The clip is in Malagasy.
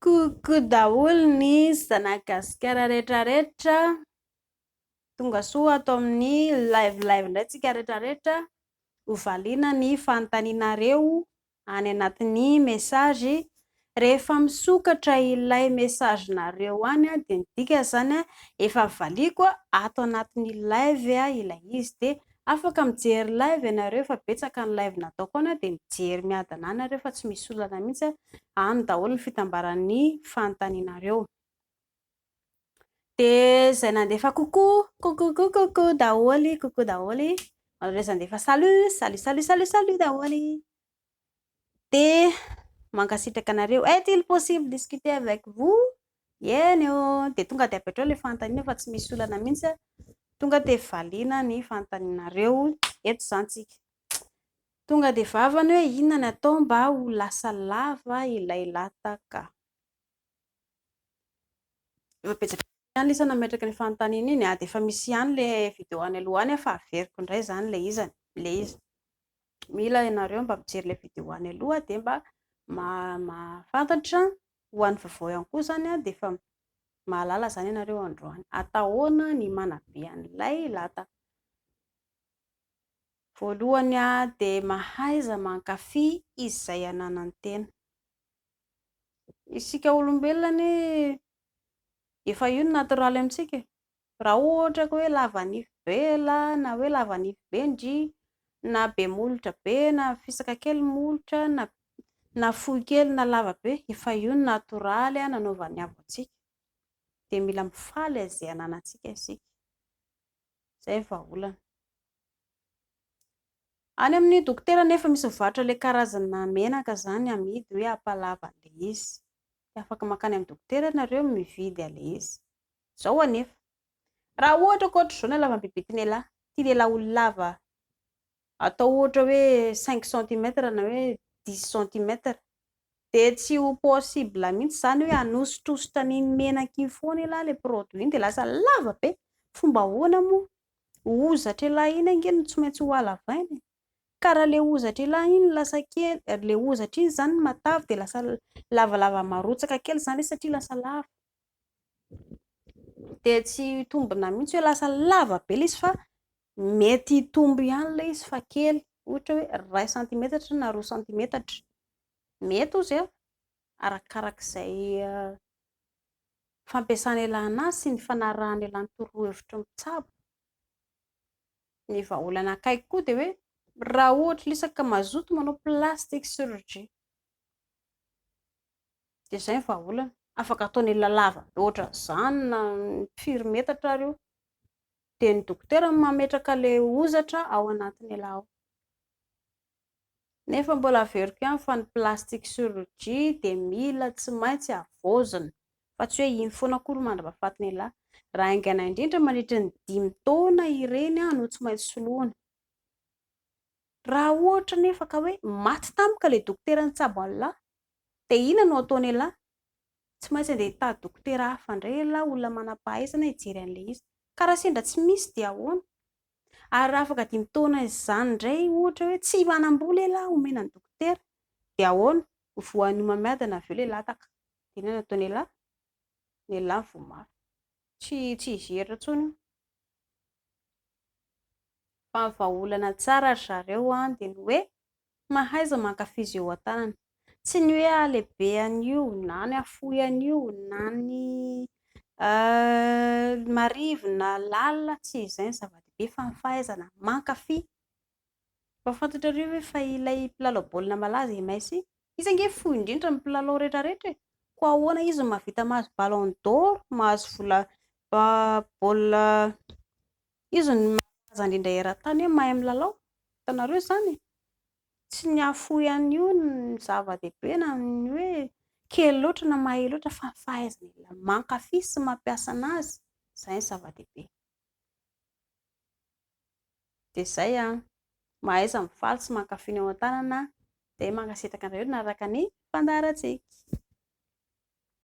Coucou daholo ny zanak'i Gasikara rehetra rehetra, tonga soa ato amin'ny live live indray tsika rehetra rehetra, ho valiana ny fanontanianareo any anatin'ny message, rehefa misokatra ilay message nareo any a, dia midika zany a efa valiako ato anatin'ny live a ilay izy, dia afaka mijery live ianareo efa betsaka ny live nataoko any a, dia mijery miadana any nareo fa tsy misy olana mihitsy a, any daholo ny fitambaran'ny fanontanianareo. Dia izay nandefa coucou, coucou coucou coucou daholo, coucou daholo, ary ireo izay nandefa salut, salut salut salut salut daholo. Dia mankasitraka anareo. Est il possible discuter avec vous? Eny ô, dia tonga dia avy hatreo ilay fanontaniana fa tsy misy olana mihitsy an. Tonga dia valiana ny fanontanianareo eto izany tsika. Tonga dia vava ny hoe inona ny atao mba ho lasa lava ilay lataka. Efa betsaka ihany lisa nametraka ny fanontaniana iny dia efa misy ihany le vidéo any aloha any fa averiko indray izany le izany le izy mila ianareo mba mijery le vidéo any aloha dia mba mahafantatra ho an'ny vaovao ihany koa izany dia efa mahalala izany ianareo androany ata ahoana ny manabe an'ilay lata voalohany dia mahaiza mankafy izy izay ananantena Isika olombelona anie efa io no natoraly amintsika e! Raha ohatra ka hoe lava nify be lahy na hoe lava nify be ndry, na be molotra be na fisaka kely ny molotra na na fohy kely na lava be, efa io no natoraly nanaovan'ny avo antsika. Dia mila mifaly izay ananantsika isika. Izay ny vahaolana. Any amin'ny dokotera anefa misy mivarotra ilay karazana menaka izany amidy hoe Ampalava ilay izy. Dia afaka mankany amin'ny dokotera ianareo mividy an'ilay izy. Izao anefa, raha ohatra ka ohatr'izao ny halavan'ny bibik'inelahy, tian'ialahy ho lava atao ohatra hoe cinq centimètres na hoe dix centimètres, dia tsy ho possible mihitsy izany hoe hanosotrosotra an'iny menaka iny foana ialahy ilay produit iny dia lasa lava be. Fomba ahoana moa? hozatr'ialahy iny ange no tsy maintsy hohalavaina e! ka raha ilay hozatr'ialahy iny lasa kely, ilay hozatra iny izany no matavy dia lasa lavalava marotsaka kely izany izy satria lasa lava, dia tsy hitombina mihitsy hoe lasa lava be ilay izy fa mety hitombo ihany ilay izy fa kely, ohatra hoe iray santimetatra na roa santimetatra, mety hozy an! arakarak'izay fampiasana ialana sy ny fanarahana ialany torohevitry ny mpitsabo ny vahaolana akaiky koa dia hoe raha ohatra ilay isak ka mazoto manao plastic chirurgie dia izay ny vahaolana afaka ataony olona lava loatra izany na firy metatra ary io dia ny dokotera no mametraka ilay hozatra ao anatin'ilay ao Nefa mbola averiko ihany fa ny plastic surgy dia mila tsy maintsy avaozina fa tsy hoe iny foana akory mandra-pahafatin'ialahy. Raha haingana indrindra mandritry ny dimy taona ireny no tsy maintsy soloina. Raha ohatra anefa ka hoe maty tampoka ilay dokotera nitsabo an'ialahy dia inona no ataon'ialahy? Tsy maintsy handeha hitady dokotera hafa indray ialahy, olona manam-pahaizana hijery an'ilay izy. Ka raha sendra tsy misy dia ahoana? Ary raha afaka dimy taona izany indray ohatra hoe tsy manam-bola lehilahy omena ny dokotera dia ahoana? Ho voan'ny homamiadana avy eo ilay lataka. Dia inona no ataon'ialahy? Ny ialahy no voa mafy. Tsy tsy hijery intsony io. Fa ny vahaolana tsara ry zareo dia ny hoe Tsy mahaiza mankafy izay eo an-tanana. Tsy ny hoe halehibe an'io, na ny hafohy an'io, na ny marivo na lalina, tsy izay no zava-dehibe fa ny fahaizana mankafy. Efa fantatrareo ve fa ilay mpilalao baolina malaza i Messi, izy ange fohy indrindra amin'ny mpilalao rehetrarehetra e! koa ahoana izy no mahavita mahazo ballon d'or, mahazo vola baolina Izy no malaza indrindra eran-tany hoe mahay milalao, hitanareo izany e! Tsy ny hahafoy an'io no zava-dehibe na ny hoe kely loatra na mahay loatra fa ny fahaizana mankafy sy mampiasa an'azy, izay no zava-dehibe. Dia izay an! Mahaiza mifaly sy mankafy ny ao an-tanana aho, dia mankasitraka anareo nanaraka ny fandaharantsika.